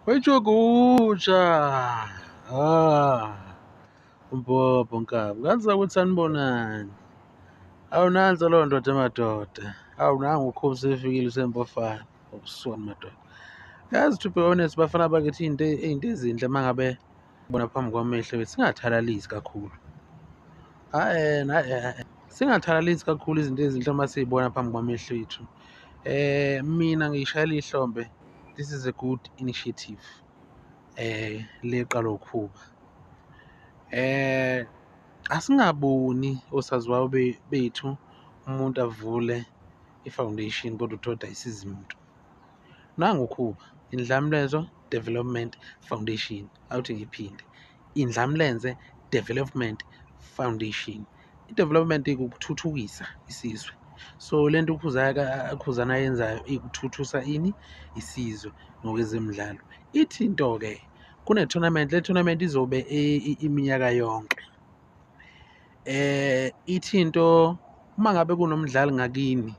Wayijoguja. Ah. Umbhobho nkabi. Ngazi ukuthi anibonani. Awu nanso leyo ndoda emadoda. Awu nangu ukhubu sefikile usempofana. Ubusuku madoda. Yazi to be honest bafana bakithi into into ezinhle mangabe bona phambi kwamehlo wethu singathalalisi kakhulu hayi hayi singathalalisi kakhulu izinto ezinhle uma siyibona phambi kwamehlo ethu eh mina ngiyishayela ihlombe this is a good initiative eh leqala ukhuba eh asingaboni osaziwayo bethu umuntu avule i-foundation kodwa uthole ukuthi ayisizi muntu nangu khuba indlamlenzo development foundation awuthi ngiphinde indlamlenze development foundation i-development ikukuthuthukisa isizwe so le nto ukhuzana ayenzayo ikuthuthusa ini isizwe ngokwezemidlalo ithi into-ke kune-tournament le tournament izobe iminyaka yonke eh ithi into uma ngabe kunomdlali ngakini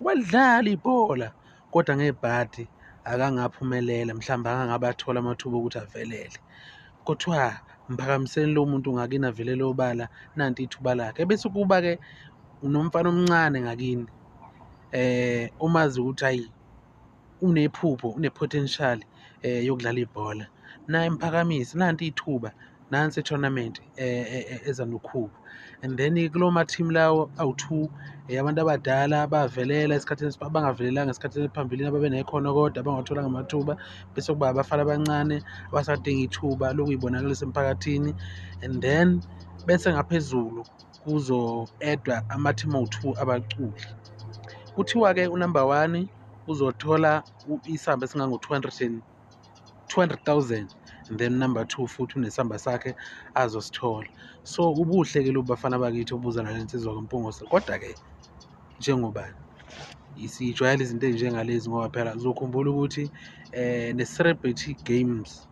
Walidlala ibhola kodwa ngebhadi akangaphumelela mhlawumbe akangabe athole amathuba okuthi avelele kuthiwa mphakamiseni lo muntu ngakini avelele obala nanti ithuba lakhe bese kuba-ke unomfana omncane ngakini um eh, umazi ukuthi ayi unephupho une-potential eh yokudlala ibhola naye mphakamise nanti ithuba nansi i-tournament eh, eh, eh, eza nokhuba and then kulo ma-team lawo awu-two abantu abadala bavelela esikhathini abangavelelanga esikhathini ephambilini ababenekhono kodwa abangawatholanga amathuba bese kuba abafana abancane abasadinga ithuba lokuyibonakalisa emphakathini and then bese ngaphezulu kuzo-edwa ama-team owu-two abaculi kuthiwa-ke unumber one uzothola isamba esingango-two hundred and two hundred thousand and then number two futhi unesamba sakhe azosithola so ubuhle ke lobu bafana bakithi obuza nale nsizwa kampungose kodwa-ke njengobani sijwayele izinto ezinjengalezi ngoba phela uzokhumbula ukuthi um ne-celebrity games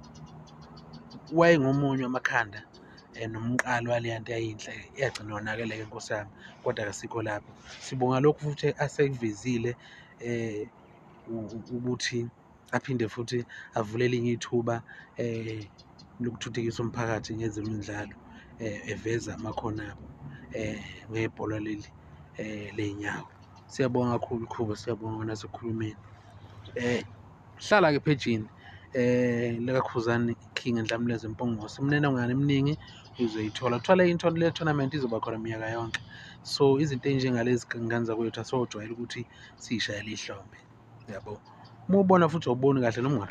wayengomunye amakhanda and umqalo waleya nto yayinhle yagcina yonakele ke nkosi yami kodwa kasikho lapho sibonga lokhu futhi asekuvezile um ukuthi aphinde futhi avule elinye ithuba um lokuthuthukisa umphakathi ngezemidlalo um eveza amakhono abo um ngebhola leli um ley'nyawo siyabonga kakhulu khuba siyabonga nasekhulumeni um hlala ke phejini eh likakhuzani king enhlamuleza empongose imninongwane eminingi uzoyithola kuthiwa into le tournament izoba khona minyaka yonke so izinto enjengalezi ngane zakwethu asojwayela ukuthi siyishayele ihlombe yabo uma ubona futhi awuboni kahle noma ungathi